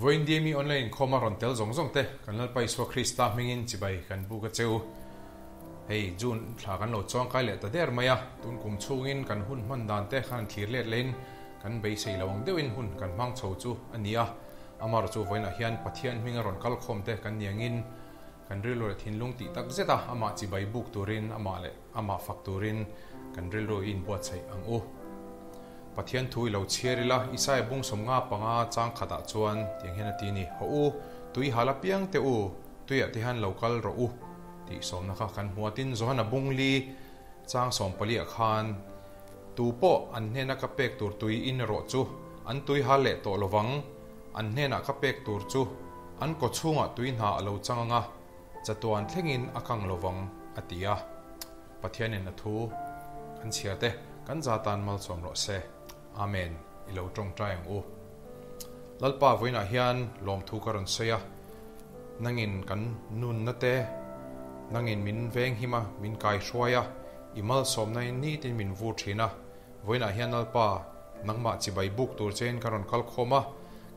Vawi Indiami online inkhawma rawn tel zawng zawng te kan Lalpa Isua Krista hmingin chibai kan buk a che u. Hei June thla kan lo chuangkai leh ta der mai a, tun kum chhungin kan hun hman dan te khan thlir let lehin kan beisei lo ang deuhin hun kan hmang chho chu a ni a. Amar chu vawiinah hian Pathian hminga rawn kalkhawm te kan niangin, Kan rilru leh thinlung tih tak zeta amah chibai buk turin amah leh amah fak turin kan rilru i inbuatsaih ang u. Pathian thu i lo chhiar ila, Isaya bung sawmnga panga chang khatah chuan tiang hian a ti a ni, Haw u, tui hal apiang teh u, tuiah te hian lo kal rawh u tih sawmna kha kan hmu a. Tin, Johana bungli chang sawm paliah khan Tu pawh an hnena ka pek tur tui in erawh chu an tui hal leh tawh lovang, an hnenah ka pek tur chu an kaw chhungah tui hna a lo chang ang a, chatuan thlengin a kang lovang, a ti a. Pathianin a thu kan chhia te kan za tan malsawm rawh se. Amen. I lo tawngtai ang u. Lalpa vawiinah hian lawmthu ka rawn sawi a, nangin kan nunna te, nangin min venghim a, min kaihruai a, I malsawmna in nitin min vur thin a, vawiinah hian Lalpa, nangmah chibai buk tur che in kan rawn kal khawm a,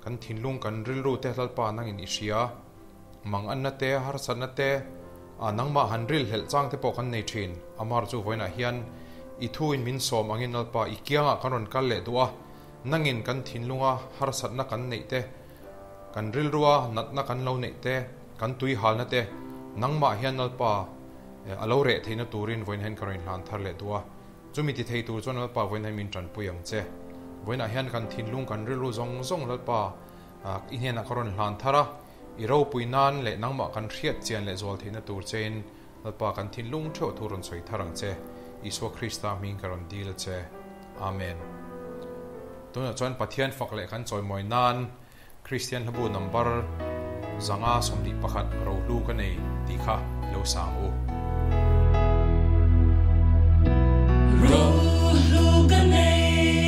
kan thinlung kan rilru te Lalpa nangin i hria, manganna te, harsatna te, a nangmah han ril hlelh chang te pawh kan nei thin, Amar chu vawiinah hian I thu in min sawm angin Lalpa I kiangah kan rawn kal leh duh a, nangin kan thinlunga harsatna kan neih te, Kan rilrua natna kan lo neih te, kan tui halna te nangmah hian lalpa a lo reh theihna turin vawiinahin ka rawn inhlan thar leh duh a. Chumi ti thei tur chuan lalpa vawiinahin min tanpui ang che. Vawiinah hian kan thinlung kan rilru zawng zawng lalpa i hnenah ka rawn hlan thar a, i ropui nan leh nangmah kan hriat chian leh zual theihna tur chein Lalpa kan thinlung theuh thu rawn sawi thar ang che. Isua Krista hming ka rawn dil a che. Amen. Tunah chuan Pathian fak leh kan chawimawi nan Kristian hlabu nambar zanga sawmli pakhat ro hlu ka nei tih kha i lo sang u. Ro hlu ka nei.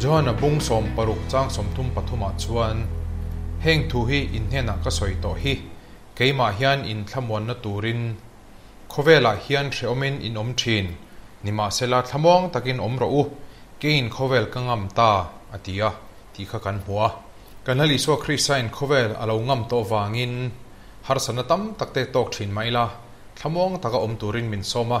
Johan a bung sawm paruk chang sawmthum pathumah chuan, Heng thu hi in hnenah ka sawi tawh hi, keimah hian in thlamuanna turin khawvelah hian hrehawmin in awm thin, nimahsela thlamuang takin awm rawh u, keiin khawvel ka ngam ta a ti a, tih kha kan hmu a. Ka hnal Isua Kristain khawvel a lo ngam tawh vangin harsatna tam takte tawk thin mai la, thlamuang taka awm turin min sawm a.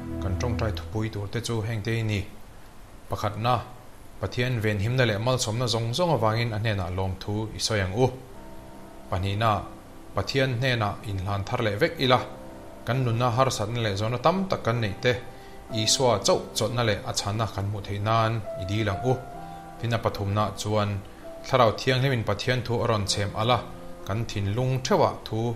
Kan tawngtai thupui tur te chu hengte i ni. Pakhatna, Pathian venhimna leh malsawmna zawng zawng avangin a hnenah lawmthu i sawi ang u. Pahnihna, Pathian hnenah inhlan thar leh vek ila, kan nunna harsatna leh zawhna tam tak kan neih te, Isua chauh chawtna leh a chhanna kan hmuh theih nan i dil ang u. Tin a pathumna chuan, Thlarau thianghlimin Pathian thu a rawn chhem ala, kan thinlung theuhah thu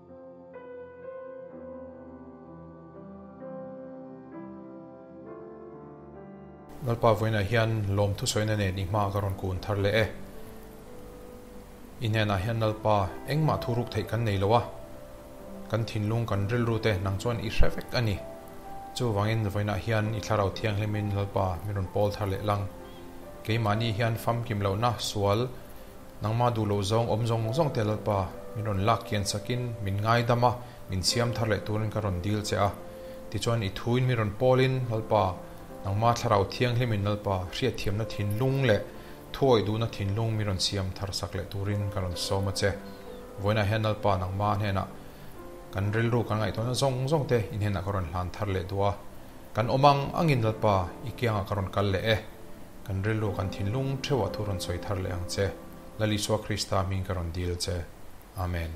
Lalpa vawiinah hian lawm thusawina nen i hma ka rawn kun thar leh e. I hnenah hian Lalpa, engmah thu ruk theih kan nei lo a, kan thinlung kan rilru te nang chuan i hre vek a ni. Chuvangin vawiinah hian i thlarau thianghlimin Lalpa min rawn pawl thar leh lang. Keimahni hian famkim lohna, sual, Nangma duh loh zawng awm zawng zawng te Lalpa, min rawn lak kian chak in min ngaidam a, min siam thar leh turin ka rawn dil che a. Tichuan i thuin min rawn pawl in Lalpa, Nangma Thlarau Thianghlim in Lalpa, hriatthiamna thinlung leh thuawih duhna thinlung min rawn siam thar sak leh turin ka rawn sawm a che. Vawiinah hian Lalpa Nangma hnenah kan rilru kan ngaihtuahna zawng zawng te i hnenah ka rawn hlan thar leh duh a. Kan awm ang angin Lalpa i kiangah ka rawn kal leh e, kan rilru kan thinlung theuhah thu rawn sawi thar leh ang che. Lal Isua Krista hming ka rawn dil che. Amen.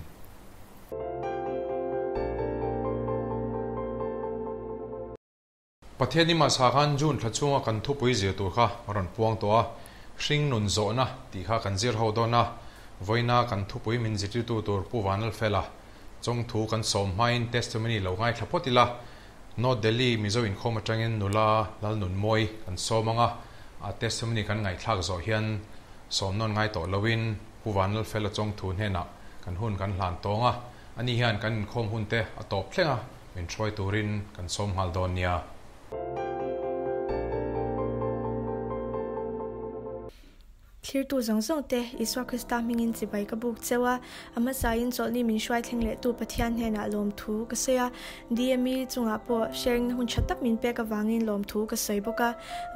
Pathian i mahsa khan June thla chunga kan thupui zir tur kha a rawn puang tawh a, hring nun zawhna tih kha kan zir ho dawn a, vawiina kan thupui min zirtirtu tur Pu Vanlalfela chawngthu kan sawm hmain testimony lo ngai thla phawt ila, Note, Delhi Mizo inkhawm atangin nula Lalnunmawi an sawm ang a, a testimony kan ngaihthlak zawh hian sawm nawn ngai tawh loin Pu Vanlalfel a chawng thu hnenah kan hun kan hlan tawng a, ani hian kan inkhawm hunte a tawp thleng a, min hruai turin kan sawm nghal dawn nia. Thlirtu zawng zawng te Isua Krista hmingin chibai ka buk cheu a, a hmasain chawlhni min hruai thleng lehtu Pathian hnenah lawmthu ka sawi a. DME chungah pawh sharing-na hun tha tak min pek avangin lawmthu ka sawi bawk a.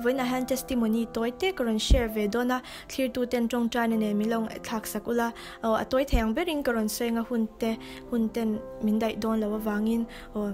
Vawiinah hian testimony tawi te ka rawn share ve dawn a, thlirtuten tawngtaina nen min lo ngaihthlak sak ula, aw a tawi thei ang berin ka rawn sawi ang a, hunte, hunten min daih dawn lo avangin aw.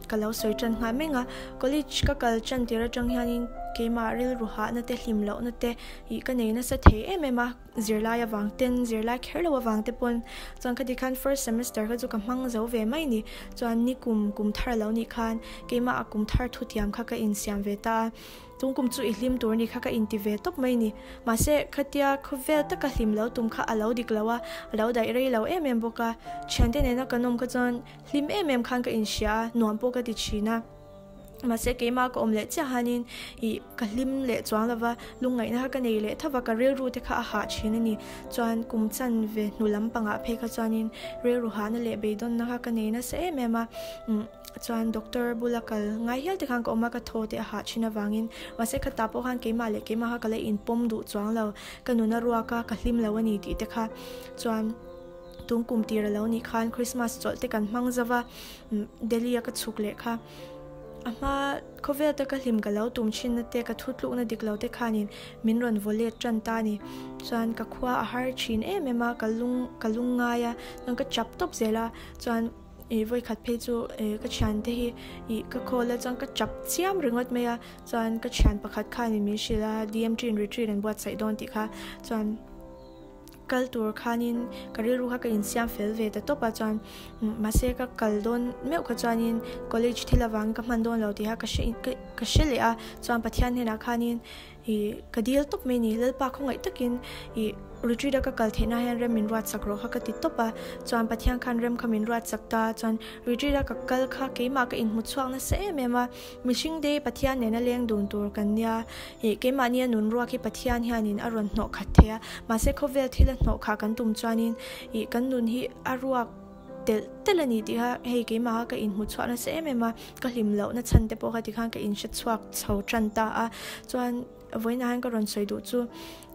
Ka lo sawi tan nghal meng a, college ka kal tan tir atang hianin keimah rilru hahna te, hlim lohna te ih ka nei nasa thei em em a, zirlai avang ten, zirlai kher lo avang te pawn. Chuan khati khan first semester kha chu ka hmang zo ve mai ni, chuan ni kum, kum thar lo nih khan keimah a kum thar thu tiam kha ka insiam ve ta a, tungkum chu i hlim tur ni kha ka inti ve tawp mai ni. Mahse, khatia khawvel taka hlim lo tum kha a lo dik lo a, a lo daih rei lo em em bawk a, thiante nena kan awm kha chuan Hlim em em khan ka inhria a, nuam pawh ka ti thin a. Mahse, keimah ka awm leh chiah hanin i ka hlim leh chuang lo va, lungngaihna kha ka nei leh thauh a, ka rilru te kha a hah thin a ni. Chuan kum chan ve hnu lampangah phei kha chuanin rilru hahna leh beidawnna kha ka nei nasa em em a. Chuan doctor bula kal ngai hial te khan ka awm a, ka thaw te a hah thin avangin mahse kha tah pawh khan keimah leh keimah kha ka la inpawm duh chuang lo, ka nuna ruak a, ka hlim lo a ni tih te kha. Chuan. Tum kum tir a lo nih khan Christmas chawlh te kan hmang zova, Delhi a ka chhuk leh kha. A hma khawvel te ka hlim ka lo tum thin na te, ka thu tluk na dik lo te khan in min rawn vaw let tan ta ni. Chuan ka khua a har thin em em a, ka lung ka lung ngai a, chuan ka chap tawp zel a, chuan i vawikhat phei chu e ka thian te hi i ka call a chuan ka chap chiam ringawt mai a, chuan ka thian pakhat khan in min hrilh a, DMT in retreat an buatsaih dawn tih kha, chuan Kal tur khanin ka rilru kha ka insiam fel ve ta tawp a chuan mahse ka kal dawn meuh kha chuanin college thil avangin ka hman dawn lo tih kha ka hre in ka hre leh a chuan Pathian hnenah khanin i ka dil tawp mai a ni Lalpa khawngaih takin i retreat a ka kal theihna hian rem min ruat sak rawh kha ka ti tawp a chuan Pathian khan rem kha min ruat sak ta a chuan retreat a ka kal kha keimah ka inhmu chhuak nasa em em a. Mihring dei Pathian nena leng dun tur kan nia, ih, keimahnia nun ruak hi Pathian hianin a rawn hnawh khat thei a, mahse khawvel thil a hnawh kha kan tum chuanin, ih, kan nun hi a ruak telh telh a ni tih kha hei keimah kha ka inhmu chhuah nasa em em a, ka hlim loh na chhan te pawh kha tikhan ka inhre chhuak chho tan ta a, chuan vawiinah hian ka rawn sawi duh chu,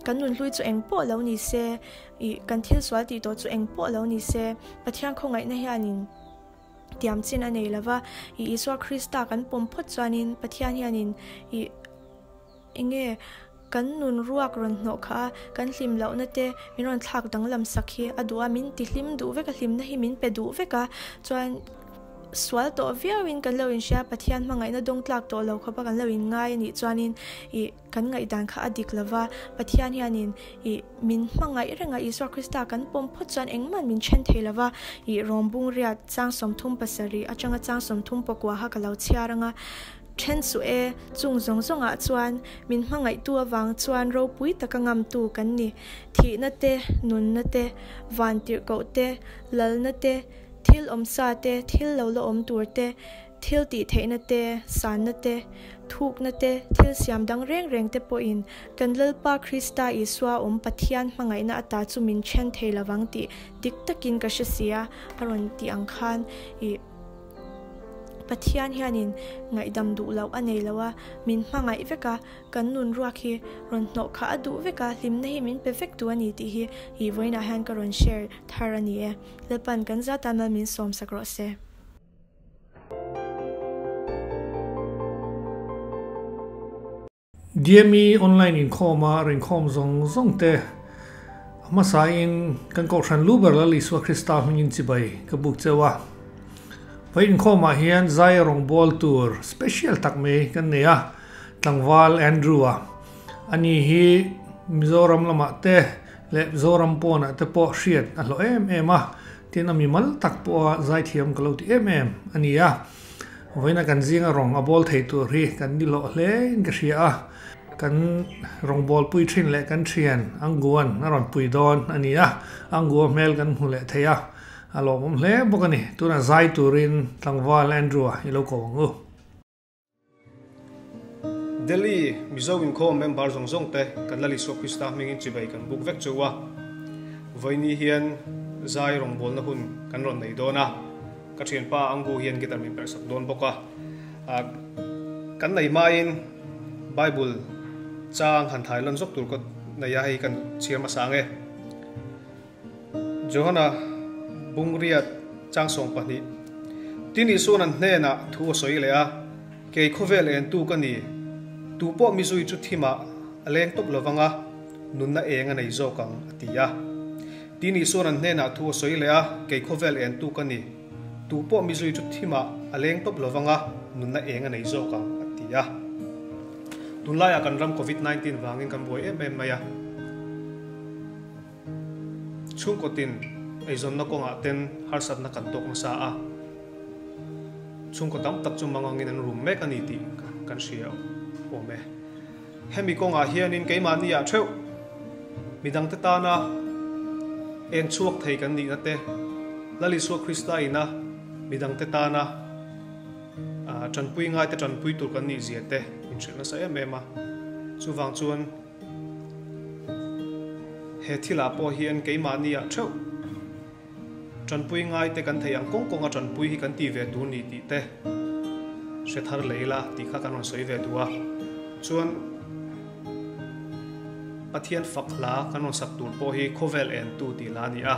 kan nun hlui chu eng pawh lo ni se, ih, kan thil sual tih tawh chu eng pawh lo ni se, Pathian khawngaihna hianin. tiam chin a nei lova, i Isua Krista kan pawm phawt chuanin Pathian hianin i i nge kan nun ruak rawn hnawh kha a, kan hlim lohna te min rawn thlak danglam sak hi a duh a, min tihlim duh vek a, hlimna hi min pe duh vek a, chuan sual tawh viau in kan lo inhria Pathian hmangaihna dawng tlak tawh lo khawpa kan lo inngai a nih chuanin i. Kan ngaihdan kha a dik lova, Pathian hian in i min hmangaih reng a, Isua Krista kan pawm phawt chuan engmahn min then thei lova, i rawmbung riat chang sawmthum pasarih atanga chang sawmthum pawkuaha ka lo chhiar anga then suh e, chung zawng zawngah chuan min hmangaihtu avang chuan ropui taka ngamtu kan ni, thihna te, nunna te, van tirhkoh te, lalna te, thil awmsa te, thil lo la awm tur te, Thil tih theihna te, sanna te, thukna te, thil siam dang reng reng te pawhin kan Lalpa Krista Isua awm Pathian hmangaihna a ta chu min then thei lo vang tih dik takin ka hre si a, a rawn tih ang khan i Pathian hianin ngaihdam duh loh a nei lo a, min hmangaih vek a, kan nun ruak hi rawn hnawh kha a duh vek a, hlimna hi min pe vek duh a ni tih hi i vawiinah hian ka rawn share thar a ni e. Lalpa'n kan zat a mal min sawmsak rawh se. Dmi online inkhawma rinkhawm zawng zawng te a hmasa in kan kohhran lu ber lal Isua Krista hming in chibai ka buk cheu a. Vei inkhawm ah hian zai a rawn bual tur special tak mai kan nei a, tlangval Andrew a. Ani hi Mizoram lamah te leh Zoram pawnah te pawh hriat a hlawh em em a, tin a mimal tak pawha zaithiam ka lo ti em em a ni a, vawiina kan zinga rawng a bawl thei tur hi kan ni hlawh hlein ka hria a, kan rawngbâwl pui ṭhin leh kan ṭhian Anguwan a rawn pui dawn a ni a, Anguwa hmel kan hmu leh thei a, a lawmawm hle bawk a ni, tunah zai turin tlangval Andrew-a i lo ko ang u. Delhi, Mizo inkhawm member zawng zawng te kan Lal Isua Krista hmingin chibai kan buk vek cheu a, vawiini hian zai rawngbawlna hun kan rawn nei dawn a, ka thianpa Angu hian guitar min perh sak dawn bawk a, kan nei hmain Bible chang han thailawn zawk tur ka nei a, hei kan chhiar hmasa ang e. Johana bungriat changsawng pahnih tin Isuan an hnenah thu a sawi leh a, Kei khawvel entu ka ni, tupawh mizui chu thimah a leng tawp lovang a, nunna eng a nei zawk ang a ti a. Tin Isuan an hnenah thu a sawi leh a, Kei khawvel entu ka ni, tupawh mizui chu thimah a leng tawp lovang a, nunna eng a nei zawk ang a ti a. Tunlaiah kan ram Covid nineteen vangin kan buai em em mai a. Chhungkawtin eizawnna kawngah ten harsatna kan tawk nasa a, chhungkaw tam tak chu mangangin an rum mek a ni tih kan hria awm e. Hemi kawngah hianin keimahniah theuh mi dangte tana eng chhuak thei kan nihna te, Lalisua Krista ina mi dangte tana tanpui ngai te tanpui tur kan nih zia te min hrilh nasa em em a. Chuvang chuan. He thilah pawh hian keimahni ah theuh tanpui ngaite kan theih ang kawng kawng a tanpui hi kan ti ve tur ni tih te hre thar lei la tih kha kan rawn sawi ve duh a. Chuan Pathian fak hla kan rawn sak tur pawh hi khawvel en tu tih la a ni a.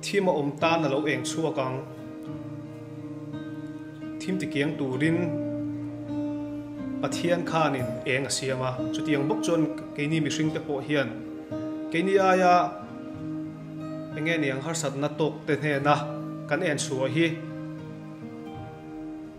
Thim a awm tan a lo eng chhuak ang. Thim ti kiang turin Pathian khanin eng a siam a. Chutiang bawk chuan keini mihring te pawh hian keini aia eng nge niang harsatna tawkte hnena kan en chhuah hi.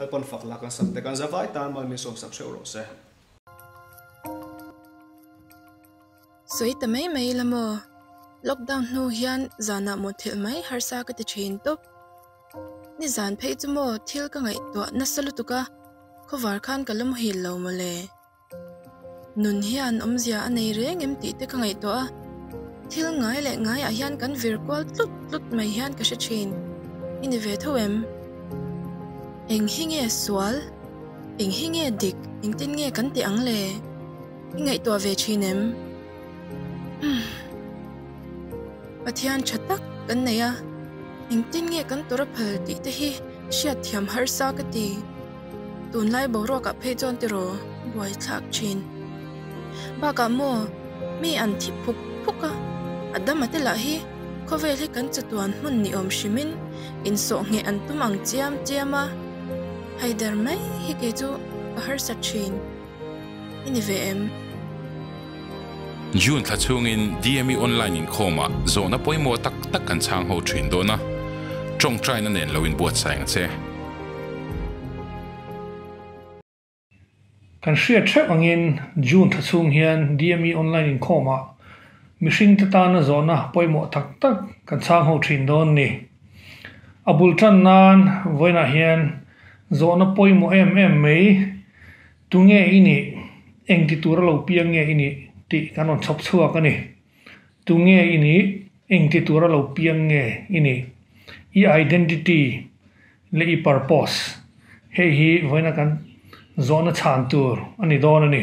Kal pawn fak lah kan sam te kan za vai tan mai min sawm sak hreuh rawh se. Sawi ta mai mai la maw? Lockdown hnu hian zanah mawhthelh mai harsa ka ti thin tawp. Nizan phei chu maw thil ka ngaihtuah nasa lutuk a, khawvar khan ka lawmhil lo mawle. Nun hian awmzia a nei reng em tih te ka ngaih tawh a, thil ngai leh ngai ah hian kan vir kual tlut tlut mai hian ka hre thin. I ni ve tho em? Eng hi nge sual? Eng hi nge dik? Engtin nge kan tih ang le? I ngaihtuah ve thin em? Hum. Pathian tha tak kan nei a, engtin nge kan tura phal tih te hi hriat thiam harsa ka ti. Tunlai boruakah phei chuan tiraw buaithlak thin. Bakah maw mi an thih phuk phuk a, a damate lah hi khawvel hi kan chatuan hmun ni awm hrimin insawhnge an tum ang chiam chiam a. Haider mai hi kei chu ka harsat thin. I ni ve em? June thla chungin DME Online inkhawmah zawhna pawimawh tak tak kan chhang ho thin dawn a, tawngtaina nen lo inbuatsaih ang che. Kan hriat theuh angin June thla chung hian DME Online inkhawmah mihringte tana zawhna pawimawh tak tak kan chhang ho thin dawn ni. A bul tan nan vawiinah hian Zawhna pawimawh em em mai. Tunge i nih? Engti tur a lo piang nge i nih? tih kan rawn chhawp chhuak a ni. Tunge i nih? Engti tur a lo piang nge i nih? I identity leh i purpose hei hi vawiina kan zawhna chhan tur a ni dawn a ni.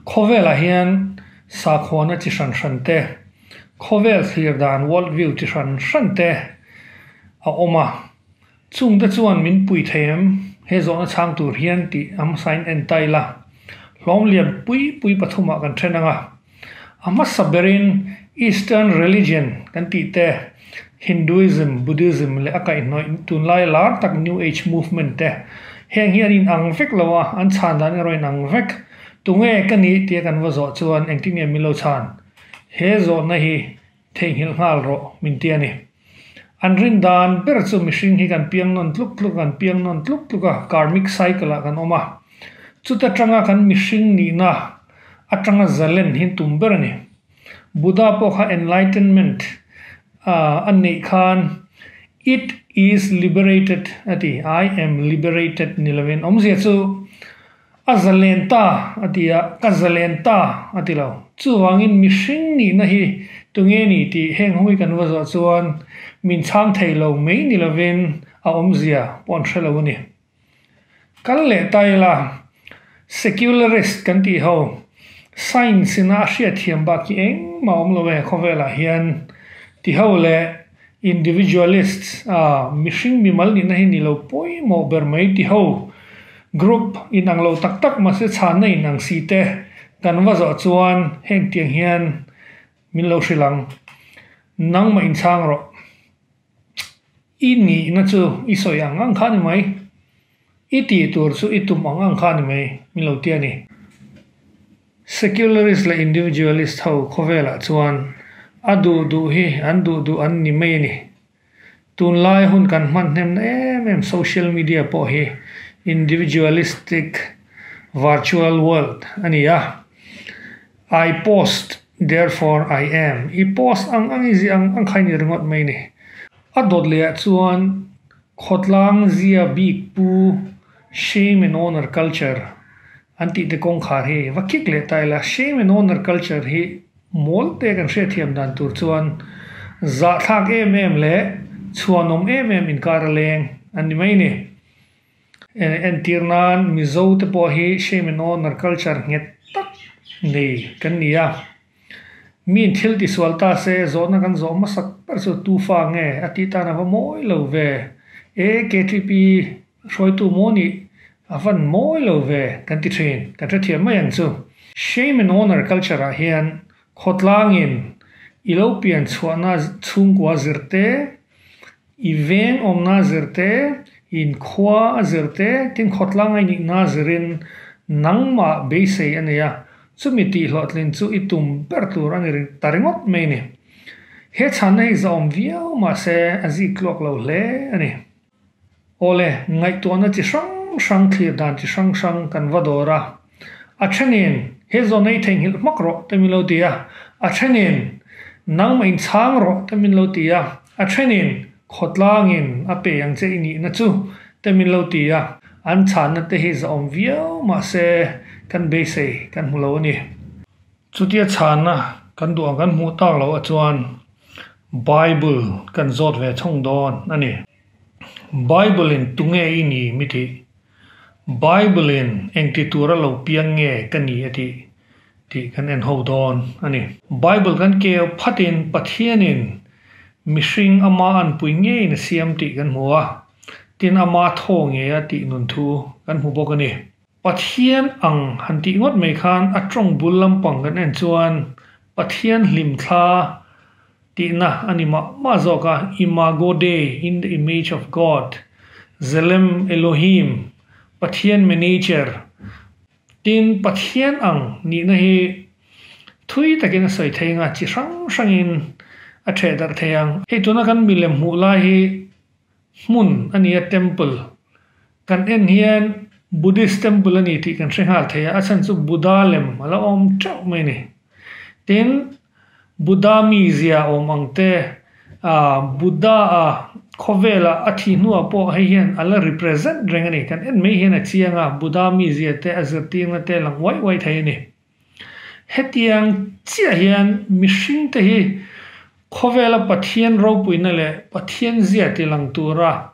Khawvelah hian sakhuana chi hran hran te, khawvel thlir dan, world view, chi hran hran te a awm a. Chung te chuan min pui thei em? He zawhna a chhang tur hian tih a hmasa in en ta ila, hlawm lian pui pui pathumah kan then ang a. A hmasa berin Eastern Religion kan tih te, Hinduism, Buddhism leh a kaihhnawih tunlai lar tak New Age Movement te, heng hi an inang vek lo a, an chhan dan erawh a inang vek. Tunge ka nih? tia kan va zawh chuan engtinge min lo chhan? He zawhna hi Theihnghilh nghal rawh, min ti a ni. An rin dan ber chu mihring hi kan piang nawn tluk tluk a, kan piang nawn tluk tluk a, karmic cycle ah kan awm a. Chuta tanga kan mihring nihna atanga zalen hi tum ber a ni. Buddha pawh kha enlightenment a neih khan it is liberated a ti, I am liberated ni lovin awmzia chu A za len ta a ti a, ka za len ta a ti lo. Chuvangin mihring nihna hi tunge ni tih heng hawngin kan va zawh chuan min chhang thei lo mai ni lovin a awmzia pawh an hre lo a ni. Kal leh ta ila, secularist kan tih ho, science-ina a hriatthiam bak hi engmah a awm lo e khawvelah hian ti ho leh, Individualists, a, mihring mimal nihna hi nilo pawimawh ber mai ti ho, group, in ang lo tak tak mahse chhânna in ang si te kan va zawh chuan heng tiang hian min lo hrilh ang. Nangmah inchhâng rawh. I nihna chu i sawi ang ang khan i mai. I tih tur chu i tum ang ang kha a ni mai, min lo ti a ni. Secularist leh Individualist ho khawvelah chuan a duh duh hi an duh duh an ni mai a ni. Tunlai hun kan hmanhnemna em em social media pawh hi individualistic virtual world a ni a, I post, therefore I am, i post ang ang i ziah ang ang kha a ni ringawt mai a ni. A dawt leh ah chuan Khawtlang zia bik pu shame and honour culture an tih te kawngkhar hi va kik leh ta ila, shame and honour culture hi mawl te kan hriatthiam dan tur chuan zahthlak em em leh chhuanawm em em inkar a leng a ni mai ni. Entir nan Mizo te pawh hi shame and honour culture nghet tak nei kan ni a. Miin thil ti sual ta se, zawhna kan zawh hmasak ber chu Tufa nge a tih tan a va mawi lo ve. E KTP hruaitu maw nih a van mawi lo ve kan ti thin, kan hrethiam mai ang chu. Shame and Honour culture ah hian khawtlangin i lo pian chhuahna chhungkua zirte I veng awmna zir te, in khua a zir te, tin khawtlang a inihna zirin nangmah beisei a nei a, chumi tihhlawhtlin chu i tum ber tur a ni ta ringawt mai ni. He chhanna hi zahawm viau mahse a zik tluak lo hle a ni. Awle, ngaihtuahna chi hrang hrang, thlir dan chi hrang hrang kan va dawr a. A then in, He zawn a i theihnghilh hmak rawh, te min lo ti a. A then in, Nangmah in chhang rawh, te min lo ti a. A then in, Khawtlang in a pe ang che i nihna chu, te min lo ti a. An chhanna te hi zahawm viau mah se, kan beisei kan hmu lo a ni. Chutia chhanna kan duh ang kan hmuh tak loh a chuan Bible kan zawt ve chhung dawn a ni. Bible-in tunge i ni mi tih? Bible-in engti tur a lo piang nge ka ni a tih? tih kan en ho dawn a ni. Bible kan keu phatin Pathianin mihring Amah an pui ngeiin a siam tih kan hmu a, tin Amah thaw nge a tih nun thu kan hmu bawk a ni. Pathian ang han tih ngawt mai khan a tawng bul lampang kan en chuan Pathian hlim thla tihna a ni mah mah zawk a, Imago Dei, In the Image of God, Tzelem Elohim, Pathian Miniature. Tin, Pathian ang nihna hi thui takin a sawi thei nga, chi hrang hrangin a thehdarh thei ang. Hei tuna kan milem hmuh lai hi Hmun a nia temple. Kan en hian Buddhist temple a ni tih kan hre nghal thei a, a chhan chu Buddha lem a la awm teuh mai ni. Tin, Buddha mi zia awm ang te, aah, Buddha a khawvela a thi hnuah pawh hei hian a la represent reng a ni. Kan en mai hian a chianga Buddha mi zia te, a zirtirna te a lang uaih uaih thei a ni. Hetiang chiah hian mihring te hi khawvela Pathian ropuina leh Pathian zia ti lang tura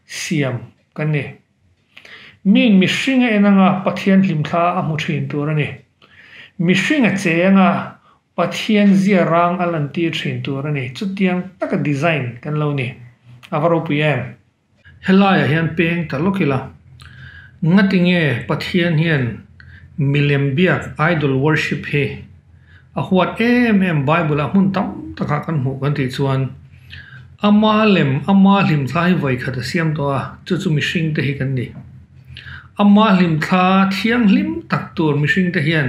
siam kan ni. Min mihringa en anga Pathian hlimthla a hmu thin tur a ni. Mihringa che anga Pathian zia rang a lantir thin tur a ni. Chutiang taka design kan lo ni. A va ropui em? Helaiah hian peng ta lawk ila, ngatinge Pathian hian milem biak idol worship hi a huat em em Bible-ah hmun tam takah kan hmuh kan tih chuan ama lem ama hlimthla hi vawi khat a siam tawh a, chu chu mihring te hi kan ni. Ama hlimthla thianghlim tak tur mihring te hian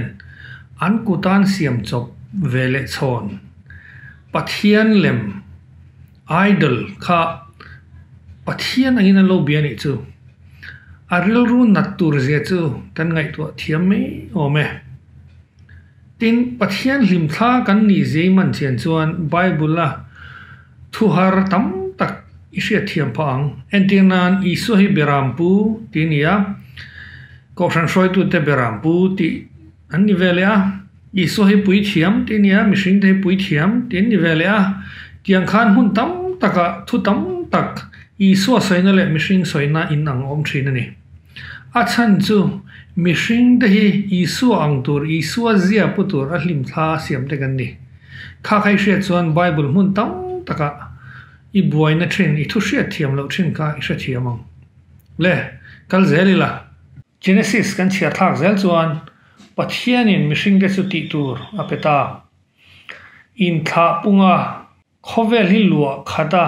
an kut a an siam chawp ve leh chhawn. Pathian lem. Idol kha Pathian angin an lo bia nih chu a rilru nat tur zia chu kan ngaihtuah thiam mai awm e. Tin, Pathian hlimthla kan nih Zeeman chian chuan Bible-a thu har tam tak i hriatthiam phah ang. Entir nan Isua hi Beram Pu ti a ni a, Kohhran hruaitute Beram Pu tih an ni ve leh a. Isua hi puithiam tih nia, mihringte hi puithiam tih an ni ve leh a. Tiang khan hmun tam takah thu tam tak Isua sawina leh mihring sawina in ang awm thin a ni. A chhan chu mihringte hi Isua ang tur, Isua zia pu tur a hlim thla siam dek an ni. Khakhei hriat chuan Bible hmun tam takah i buaina thin, i thu hriat thiam loh thin kha i hrethiam ang le, kal zel ila. Genesis kan chhiarthlak zel chuan Pathianin mihringte chu tih tur a pe ta. Inthlah punga khawvel hi luah khat a,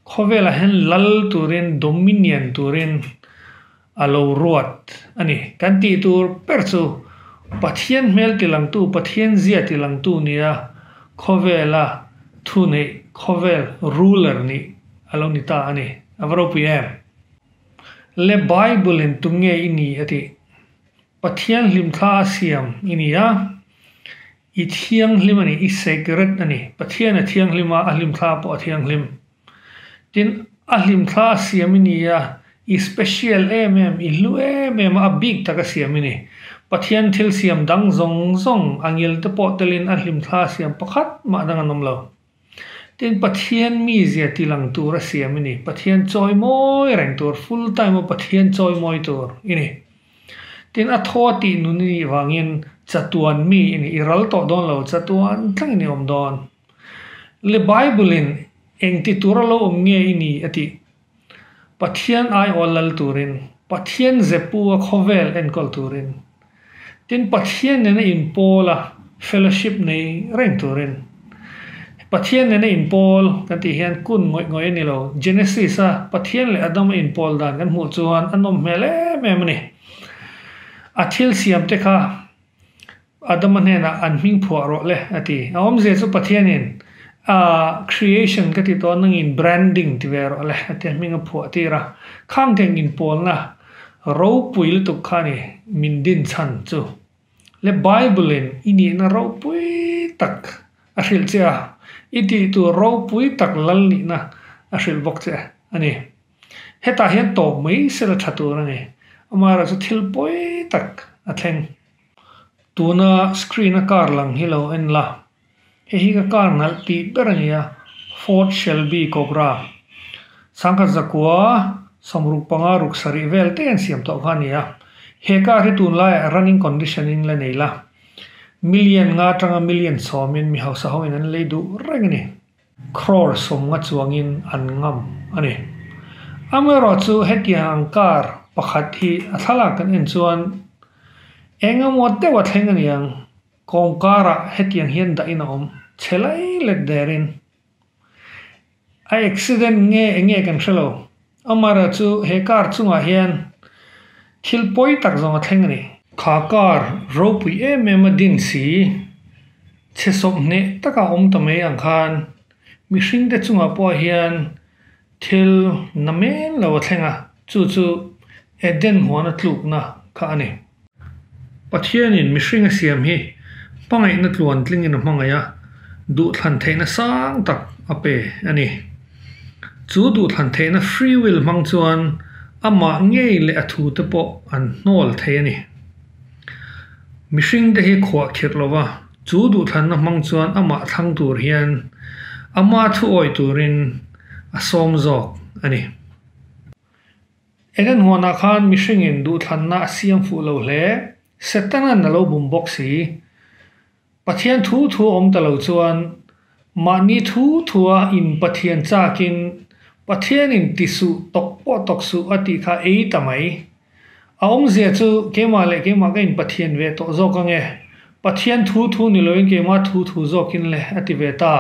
khawvelah hian lal turin, dominion turin a lo ruat a ni. Kan tih tur ber chu Pathian hmelti langtu, Pathian zia ti langtu nia khawvela thuneih, khawvel ruler nih a lo ni ta a ni. A va ropui em? Le Bible-in tum nge i nih? a ti. Pathian hlim thla a siam i ni a, i thianghlim a ni, i sacred a ni. Pathian a thianghlim a, a hlim thla pawh a thianghlim. Tin, a hlim thla a siam i ni a, i special em em, i hlu em em a, a bik tak a siam i ni. Pathian thil siam dang zawng zawng a ngil te pawh telin a hlim thla a siam pakhat mah dang an awm lo. Tin, Pathian mi zia ti lang tur a siam i ni. Pathian chawi mawi reng tur, full time a Pathian chawi mawi tur i ni. Tin, a thaw tih nun i nih vangin chatuan mi i ni, i ral tawh dawn lo, chatuan thleng i ni awm dawn. Le Bible-in engti tur a lo awm nge i ni? a ti. Pathian aiawh lal turin, Pathian zepu a khawvel enkawl turin, tin Pathian nena inpawl a fellowship nei reng turin. Pathian nena inpawl kan tih hian kun ngawih ngawih a ni lo. Genesis a Pathian leh Adam a inpawl dan kan hmuh chuan a nawm hmel em em a ni. A thil siamte kha Adama hnenah, An hming phuah rawh le, a ti. A awmzia chu Pathianin, Aah, creation ka ti tawh a, nangin branding ti ve rawh le, a ti a, hming a phuah tir a. Khang teng inpawlna ropui lutuk kha a ni min din chhan chu. Le Bible-in i nihna ropui tak a hrilh che a, i tih tur ropui tak lal nihna a hrilh bawk che a ni. Hetah hian tawp mai sela tha tur a ni. Amaherawhchu thil pawi tak a thleng. Tuna screen a car lang hi lo en la hei hi ka car nalh tih ber a ni a ford shelby cobra sangkhat zakua sawmruk panga ruk sarih vel te an siam tawh kha a ni a he car hi tun lai ah running condition in la nei la million nga tanga million sawmin mi hausa ho in an lei duh reng a ni. Crore sawmnga chuangin an ngam a ni. Amaherawh chu hetiang ang car pakhat hi a thlalak kan en chuan engemaw deuh a thleng a ni ang. Kawngkara hetiang hian dahin a awm chhe lai let darin a accident nge eng nge kan hre lo. Amara chu he car chungah hian thil pawi tak zawng a thleng a ni. Kha car ropui em em a din si, chhe sawm hneh taka awm ta mai ang khan mihring te chungah pawh hian thil na men lo a thleng a, chu chu Eden huana tlukna kha a ni. Pathianin mihring a siam hi hmangaihna tluan tlingin a hmangaih a, duhthlan theihna sang tak a pe a ni. Chu duhthlan theihna free will hmang chuan amah ngei leh a thu te pawh an hnawl thei a ni. Mihring te hi khuah khirh lo va, chu duhthlanna hmang chuan amah thlang tur hian ama thuawi turin a sawm zawk a ni. Engin huanah khan mihringin duhthlanna a siam fuh lo hle, Setana'n a lo bum bawk si. Pathian thu thu a awm ta lo chuan, mahni thu thua in Pathian chakin Pathianin ti suh tawk pawh tawk suh a tih kha ei ta mai. A awmzia chu keimah leh keimah ka inpathian ve tawh zawk ange, Pathian thu thu ni loin keimah thu thu zawkin le a ti ve ta.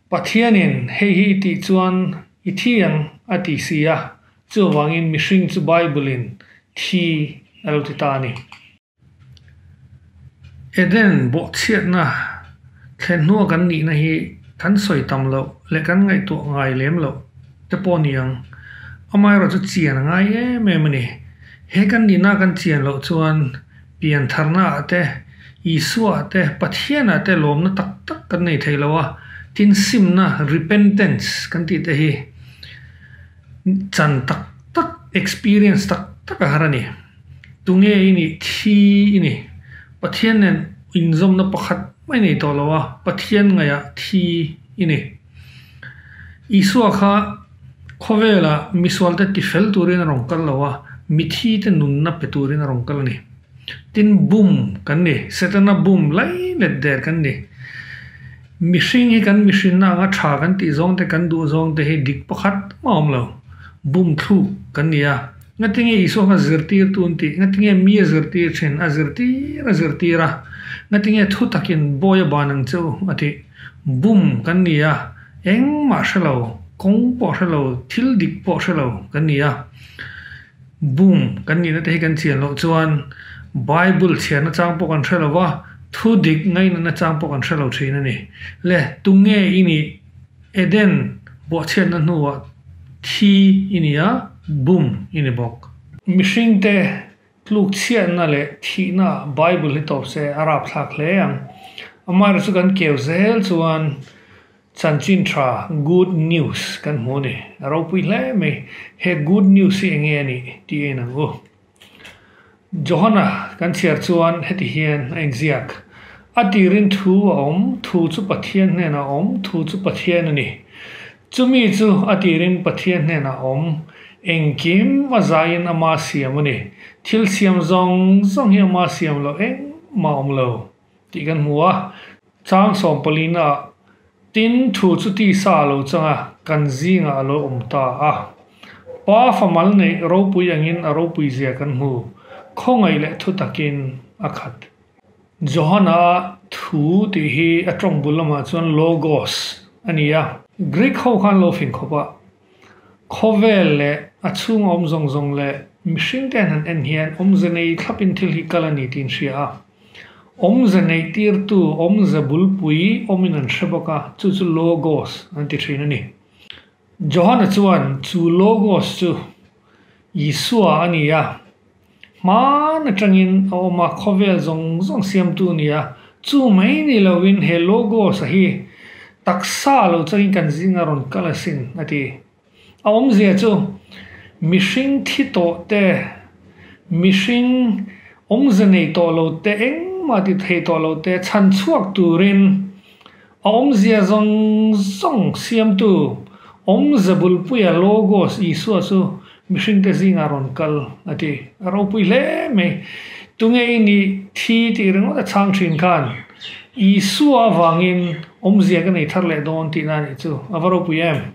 Pathianin hei hi i tih chuan i thiang a ti si a, chuvangin mihring chu Bible-in thi a lo ti ta a ni. Eden bawhchhiatna thlehhnuah kan nihna hi kan sawi tam loh leh kan ngaihtuah ngai lem loh te pawh ni ang. Amaherawhchu chian a ngai em em a ni. He kan nihna kan chian loh chuan. Piantharnaah te, Isuaah te, Pathianah te lawmna tak tak kan nei thei lo a. Tin, simna, repentance, kan tih te hi chan tak tak, experience tak tak a har a ni. Tunge i nih? Thi i ni. Pathian nen inzawmna pakhat mai nei tawh lo a, Pathian ngaihah thi i ni. Isua kha. Khawvela misualte ti fel turin a rawn kal lo a, mithi te nunna pe turin a rawn kal a ni. Tin bum kan ni, setana bum lai let der kan ni. Mihring hi kan mihrinna anga tha kan tih zawng te, kan duh zawng te hi dik pakhat a awm lo. Bum thluk kan ni a. Ngatinge Isua kha zirtirtu an tih? Ngatinge mi a zirtir thin? A zirtir a zirtir a. Ngatinge thu takin Bawiha ban ang che u a tih? Bum kan ni a. Engmah hre lo, kawng pawh hre lo, thil dik pawh hre lo kan ni a. Bum kan nihna te hi kan chian loh chuan Bible chhiarna chang pawh kan hre lo va, thu dik ngainatna chang pawh kan hre lo thin a ni. Le, tunge i nih? Eden buahchhiatna hnuah thi i ni a, bum i ni bawk. Mihringte Tlukchhiatna leh thihnaah Bible hi tawp se a rapthlak hle ang. Amaherawh chu kan keu zel chuan chanchin tha, good news, kan hmu a ni. A ropui hle mai. He good news hi enge a nih tih a inang u. Johana kan chhiar chuan heti hian a inziak, A tirin thu a awm, thu chu Pathian hnenah a awm, thu chu Pathian a ni. Chumi chu a tirin Pathian hnenah awm engkim a zaiin ama siam a ni. Thil siam zawng zawng hi ama siam loh engmah a awm lo tih kan hmu a, chang sawmpalina ah tin thu chu tisa lo changa kan zingah a lo awm ta a. Pa famal neih ropui angin a ropuizia kan hmu, khawngaih leh thutak in a khat. Johana thu tih hi a tawng bul lamah chuan Logos a ni a. Greek ho khan lo fing khawp a, khawvel leh a chhunga awm zawng zawng leh mihring te an han en hian awmze nei thlapin thil hi kal a ni tiin hria a. Awmze nei tirtu, awmze bulpui awmin an hre bawk a, chu chu Logos an ti thin a ni. Johana chuan chu Logos chu Isua a ni a, hmaan atangin a awm a, khawvel zawng zawng siamtu a ni a. Chu mai ni loin he Logos-a hi taksa lo changin kan zinga rawn kal asin, a ti. A awmzia chu mihring thi tawh te, mihring awmze nei tawh lo te, engmah ti theih tawh lo te chhan chhuak turin A awmzia zawng zawng siamtu Awm Zabulpuia Logos Isua chu mihringte zingah rawn kal a ti. A ropui hle mai. Tunge i nih thi tih ringawt a chhang thin khan Isua avangin awmzia ka nei thar leh dawn tihna a nih chu a va ropui em?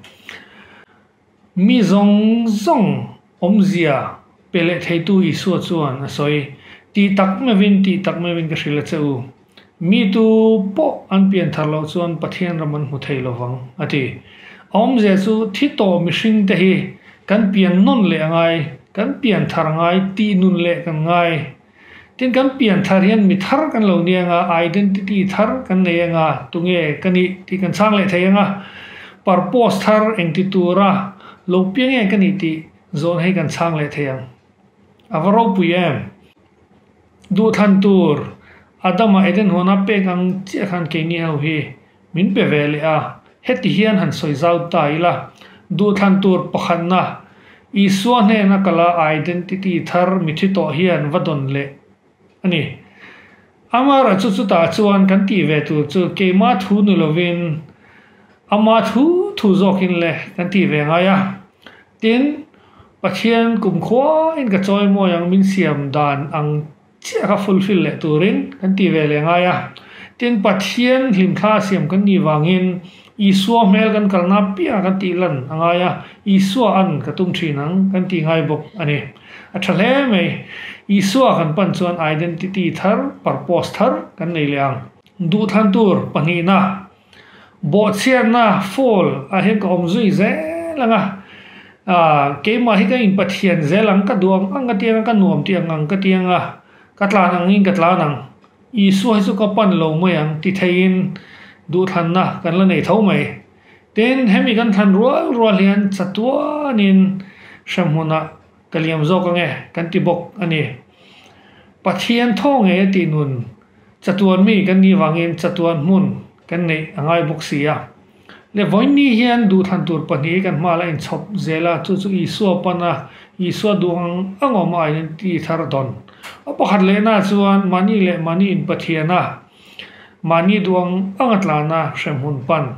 Mi zawng zawng awmzia pe leh theitu Isua chuan a sawi, Tih tak mevin, tih tak mevin ka hrilh a che u. Mi tu pawh an pian thar loh chuan Pathian ram an hmu thei lo vang, a ti. A awmzia chu thi tawh mihringte hi kan pian nawn leh a ngai, kan pian thar ngai, tihnun leh kan ngai Tin, kan pian thar hian mi thar kan lo ni anga, identity thar kan nei anga, tunge ka ni tih kan chhang leh thei anga, purpose thar engti tura lo piang nge ka nih tih zawhna hi kan chhang leh thei ang. A va ropui em? Duhthlan tur, Adama Eden huana pek ang chiah khan keini ho hi Min pe ve leh a, heti hian han sawi zau ta ila, Duhthlan tur pakhatna, Isua hnena ka la identity thar mi thi tawh hian va dawn leh a ni. Amara chu chutah chuan kan tih ve tur chu keimah thu ni lovin Amah thu thu zawkin le kan tih ve ngai a. Tin, Pathian kumkhuain ka chawi mawi ang min siam dan ang chiah kha fulfill leh turin kan tih ve leh ngai a. Tin, Pathian hlimthla a siam kan nih vangin Isua hmel kan kalna piahah kan tih lan a ngai a, Isua an ka tum thin ang kan tih ngai bawk a ni. A tha hle mai, Isua kan pan chuan identity thar, purpose thar kan nei leh ang. Duhthlan tur pahnih na. Bawhchhiarna Fall ah hian ka awm zui zel ang a, aah keimah hi ka in pathian zel ang ka duh ang ang ka tiang a ka nuam tih ang ang ka tiang a, ka tlan ang in ka tlan ang, Isua hi chu ka pan lo mai ang ti thei in duhthlanna kan la nei tho mai. Tin hemi kan thlan rual rual hian chatuan in hrehmun ah Ka liam zawk ange kan ti bawk a ni. Pathian thaw nge tih nun chatuan mi kan nih vangin chatuan hmun kan neih a ngai bawk si a. Levawinnii hian duhthlan tur pahnih hi kan hma la inchhawp zel a, chu chu Isua pan a, Isua duh ang ang awm a in ti thar dawn. A pakhat lehnaah chuan mahni leh mahni in Pathiana, mahni duh ang anga tlana hremhmun pan.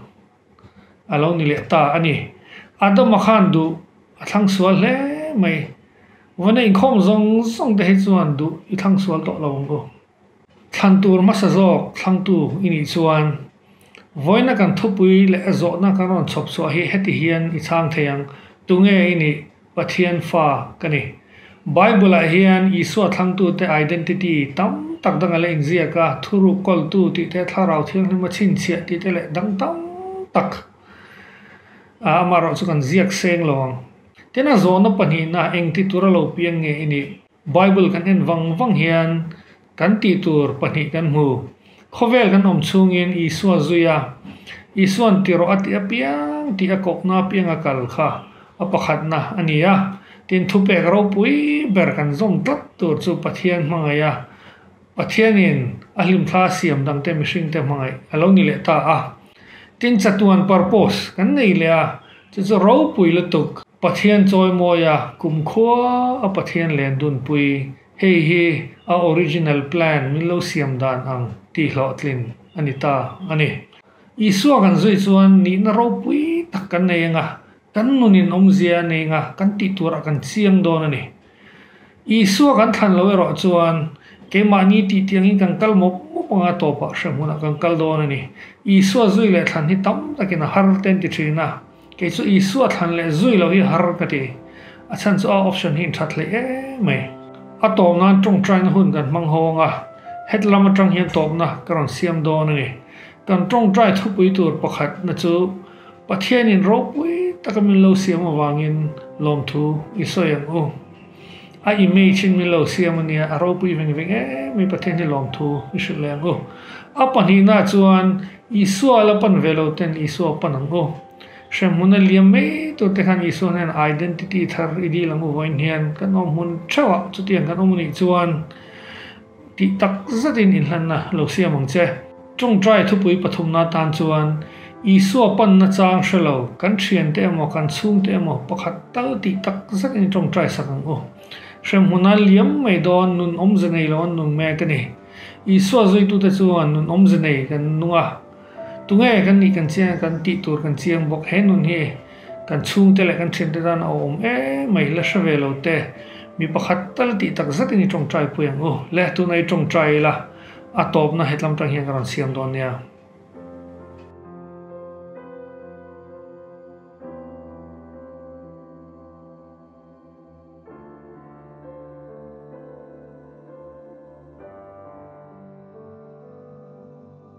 A lo ni leh ta a ni. Adama khan duh a thlang sual hle mai. Vawna inkhawm zawng zawng te hi chuan duh i thlang sual tawh lo ang u. Thlan tur hmasa zawk thlangtu i nih chuan vawiina kan thupui leh zawhna kan rawn chhawp chhuah hi heti hian i chang thei ang. Tunge i nih? Pathian Fa ka ni. Bible-ah hian Isua thlangtute identity tam tak dang a la inziak a, thuruk kawltu tih te, thlarau thianghlim a chhinchhiah tih te leh dang tam tak a amaherawh chu kan ziak seng lo ang. Tin a zawhna pahnihna engtitura lo piang nge i nih? Bible kan en vang vang hian kan tih tur pahnih kan hmu. Khawvel kan awm chhungin Isua zui a, Isua'n ti rawh a tih apiang tih a kawkna apianga kal kha a pakhatna a ni a. Tin thupek ropui ber kan zawm tlat tur chu Pathian hmangaia Pathianin a hlimthla siam dangte mihringte hmangaih a lo ni leh ta a. Tin, chatuan purpose kan nei leh a, chu chu ropui lutuk Pathian chawimawia kumkhua a Pathian len dunpui, hei hi a original plan min lo siam dan ang tih hlawhtlin a ni ta a ni. Isua kan zuih chuan nihna ropui tak kan nei anga, Kan nun in awmzia nei nga kan tih tur a kan chiang dawn a ni. Isua kan thlan lo erawh chuan keimahni tih tiang in kan kal mawp mawp anga tawpah hrehmun a kan kal dawn a ni. Isua zui leh thlan hi tam takin a har ten ti thin a, kei chu Isua thlan leh zui lo hi har ka ti. A chhan chu a option hi in that hlei em mai. A tawp nan tawngtaina hun kan hmang ho anga hetlam atang hian tawpna ka rawn siam dawn a ni. Kan tawngtai thupui tur pakhatna chu. Pathianin ropui taka min lo siam avangin lawmthu i sawi ang u. A image in min lo siam ania, a ropui veng veng em i Pathian hi lawmthu i hrilh leh ang u. A pahnihna ah chuan Isua la pan ve lo ten Isua a pan ang u. Hremhmun a liam mai tur te khan Isua hnena identity thar i dil ang u vawiin hian kan awm hmun theuhah chutiang kan awm anih chuan, Tih tak zetin inhlanna lo siam ang che. Chungchai thupui pathumna tan chuan Isua panna chang hre lo, kan thiante emaw kan chhungte emaw pakhat tal tih tak zetin i tawngtai sak ang u. Hremhuna liam mai dawn nun awmze nei lo an nun mai a ka ni. Isua zuitute chuan nun awmze nei kan nung a. Tunge kan nih kan chiang a kan tih tur kan chiang bawk, he nun hi kan chhungte leh kan thiante dan a awm em mai la hre ve lo te, mi pakhat tal tih tak zat in i tawngtai pui ang u le, tuna i tawngtai ila a tawpna hetlam tang hian ka rawn siam dawn nia.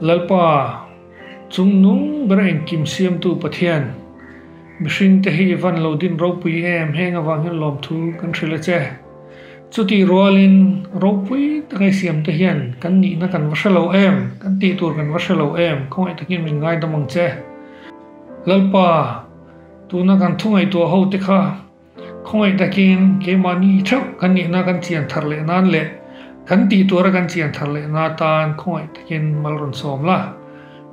Lalpa, chungnung ber engkim siamtu Pathian, mihringte hi i van lo din ropui em, heng avangin lawmthu kan hrilh a che. Chutih rualin ropui taka siamte hian kan nihna kan va hre lo em, kan tih tur kan va hre lo em, khawngaih takin min ngaidam ang che. Lalpa, tuna kan thungaihtuah ho te kha khawngaih takin keimahni theuh kan nihna kan chian thar leh nan leh kan tih tura kan chian thar lehna atan khawngaih takin mal rawn sawm la.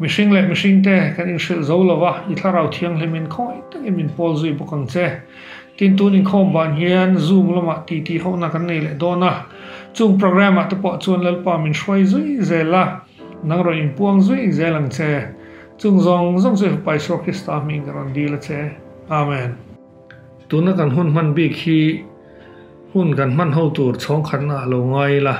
Mihring leh mihringte kan inhrilh zo lova i Thlarau Thianghlimin khawngaih takin min pawl zui bawk ang che. Tin, tun inkhawm van hian Zoom lamah titi hohna kan nei leh dawn a. Chung programme-ah te pawh chuan Lalpa min hruai zui zel a, nang rawn inpuang zui zel ang che. Chung zawng zawng chu Eva pa Isua Krista hming ka rawn dil a che. Amen. Tuna kan hun hman bik hi hun kan hman ho tur chhawngkhatna a lo ngai ila,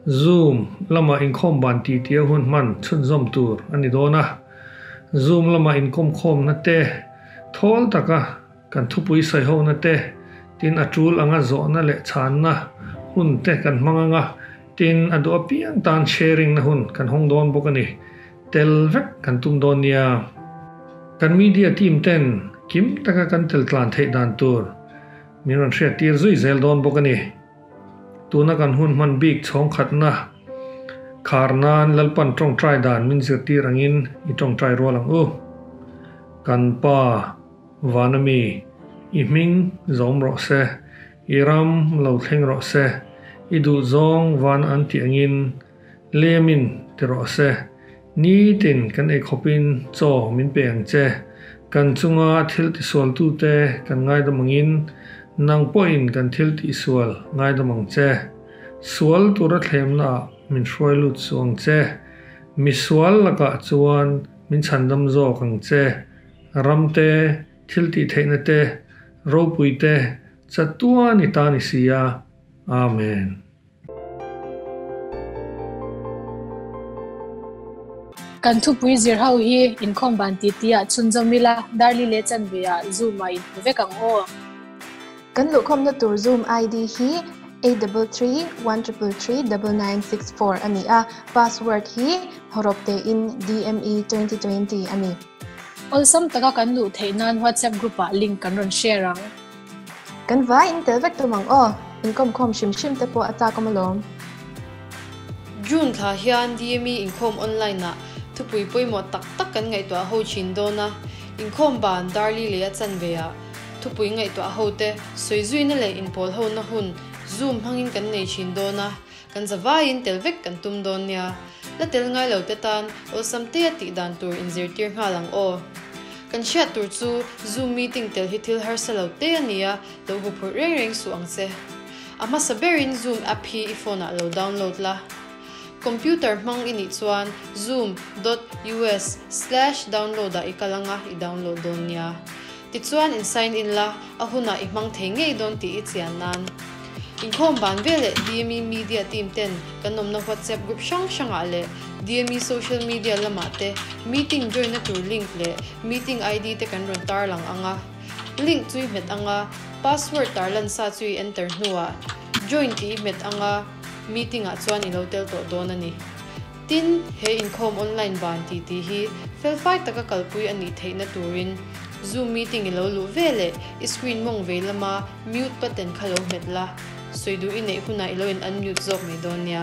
Zoom lamah inkhawm van titia hun hman chhunzawm tur a ni dawn a. Zoom lamah inkomkhawmna te. Thawl taka kan thupui saihona te, tin a tul anga zawhna leh chhanna hun te kan hmang anga, tin a duh apiang tan sharing na hun kan hawng dawn bawk a ni. Tel vek kan tum dawn nia. Kan media team ten kim taka kan tel tlan theih dan tur min rawn hriattir zui zel dawn bawk a ni. Tuna kan hun hman bik chhawngkhatna khar nan Lalpan tawngtai dan min zirtir angin i tawngtai rual ang u. Kan pa Vanami, i hming zawm rawh se, i ram lo thleng rawh se, i duhzawng van an tih angin Lemin ti rawh se. Nitin kan ei khawpin, Chaw, min pe ang che. Kan chunga thil tisualtute kan ngaidam angin, nang pawhin kan thil tihsual ngaidam ang che. Sual tura thlemnaah min hruai lut suh ang che. Misual lakah chuan min chhandam zawk ang che. Ramte, thil tih theihnate, ropuite, chatuani ta ni sia. Amen. Kan thupui zir ho hi inkhawm ban ti ti ah chhun zom ila, Darli leh Chanve ah Zoom ah in hmu vek ang aw. Kan luhkhawmna tur Zoom ID hi eight double three one triple three double nine six four a ni a, password hi hawrawp tein DME twenty twenty a ni. Awlsam taka kan luh theih nan WhatsApp group ah link kan rawn share ang. Kan vai in tel vek tum ang aw. Inkawm khawm hrim hrim te pawh a takawm alawm. June thla hian DME inkhawm online ah thupui pawimawh tak tak kan ngaihtuah ho thin dawn a. Inkhawm ban Darli lei a chanve ah thupui ngaihtuah ho te sawi zuina leh inpawlhona hun Zoom hmangin kan nei thin dawn a. Kan za vaiin tel vek kan tum dawn nia, la tel ngai lo te tan awlsam te a tih dan tur in zirtir nghal ang aw. Kan hriat tur chu Zoom meeting tel hi thil harsa lo te a nia, lo huphurh reng reng suh ang che. A hmasa berin Zoom app hi i phone ah lo download la. Computer hmang i nih chuan zoom dot us slash download ah i kal anga i download dawn nia. Tichuan in sign in la, a hunah i hmang thei ngei dawn tih i chian nan. Inkhawm ban veleh DME media team ten kan awmna WhatsApp group hrang hrangah leh DME social media lamah te meeting join na tur link leh meeting ID te kan rawn tar lang ang a. Link chu i hmet ang a, password tar lan sa chu i enter hnuah join tih i hmet anga meeting ah chuan i lo tel tawh dawn a ni. Tin, he inkhawm online ban ti ti hi felfai taka kalpui a nih theihna turin Zoom meeting i lo luh ve leh i screen mawng vei lama mute button kha lo hmet la, sawi duh i neih hunah i lo in unmute zawk mai dawn nia.